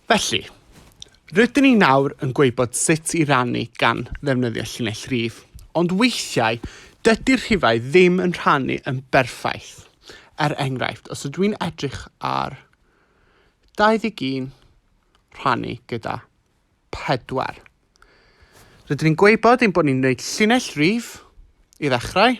Felly, rydyn ni nawr yn gwybod sut i rannu gan ddefnyddio llinell rif, ond weithiau dydy'r rhifau ddim yn rhannu yn berffaith. Er enghraifft, os ydw i'n edrych ar 21 rhannu gyda 4. Rydyn ni'n gwybod ein bod ni'n gwneud llinell rif i ddechrau,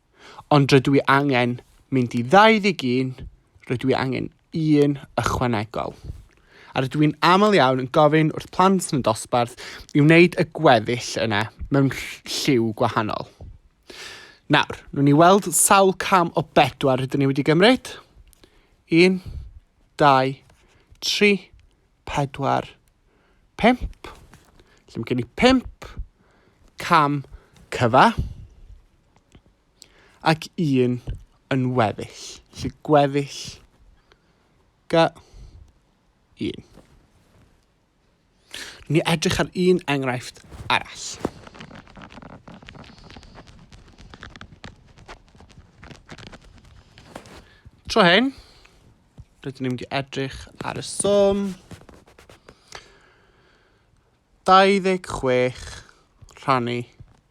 Ond rydw i angen mynd i 21, rydw i angen un ychwanegol. A rydw i'n aml iawn yn gofyn wrth plant yn y dosbarth i wneud y gweddill yna mewn lliw gwahanol. Nawr, nhw'n ni weld sawl cam o bedwar rydyn ni wedi gymryd. 1, 2, 3, 4, 5. Lle mae gen i 5 cam cyfa. ac un yn weddill. Felly gweddill ga un. Ni edrych ar un enghraifft arall. Tro hyn, rydyn ni'n mynd i edrych ar y swm 26 rhannu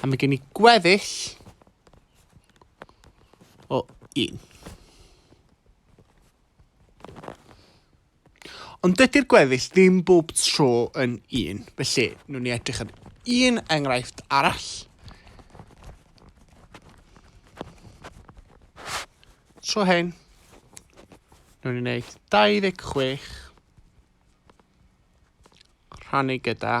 A mae gen i gweddill o un. Ond dydy'r gweddill ddim bob tro yn un. Felly, nhw'n ni edrych ar un enghraifft arall. Tro hyn, nhw'n ni wneud 26 rhannu gyda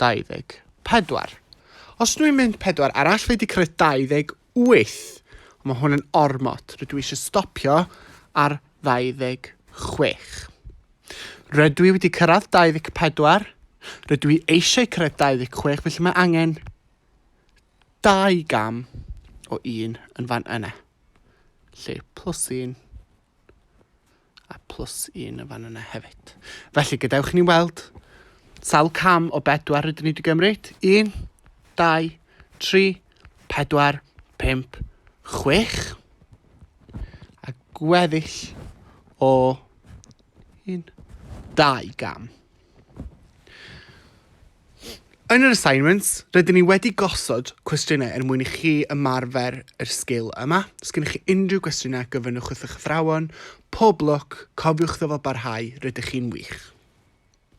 24. Os dw i'n mynd pedwar arall fi 'di cyrraedd 28. Ond mae hwn yn ormod. Rydw i eisiau stopio ar 26. Rydw i wedi cyrraedd 24. Rydw i eisiau cyrraedd 26 felly mae angen dau gam o un yn fan yna. Lle plus un a plus un yn fan yna hefyd. Felly, gadewch ni weld sawl cam o bedwar rydyn ni wedi gymryd. Un, dau, tri, pedwar, pump, chwech. A gweddill o un, dau gam. Yn yr assignments, rydyn ni wedi gosod cwestiynau er mwyn i chi ymarfer yr sgil yma. Os gennych chi unrhyw gwestiynau, gofynnwch wrth eich athrawon. Pob lwc, cofiwch ddyfalbarhau, rydych chi'n wych!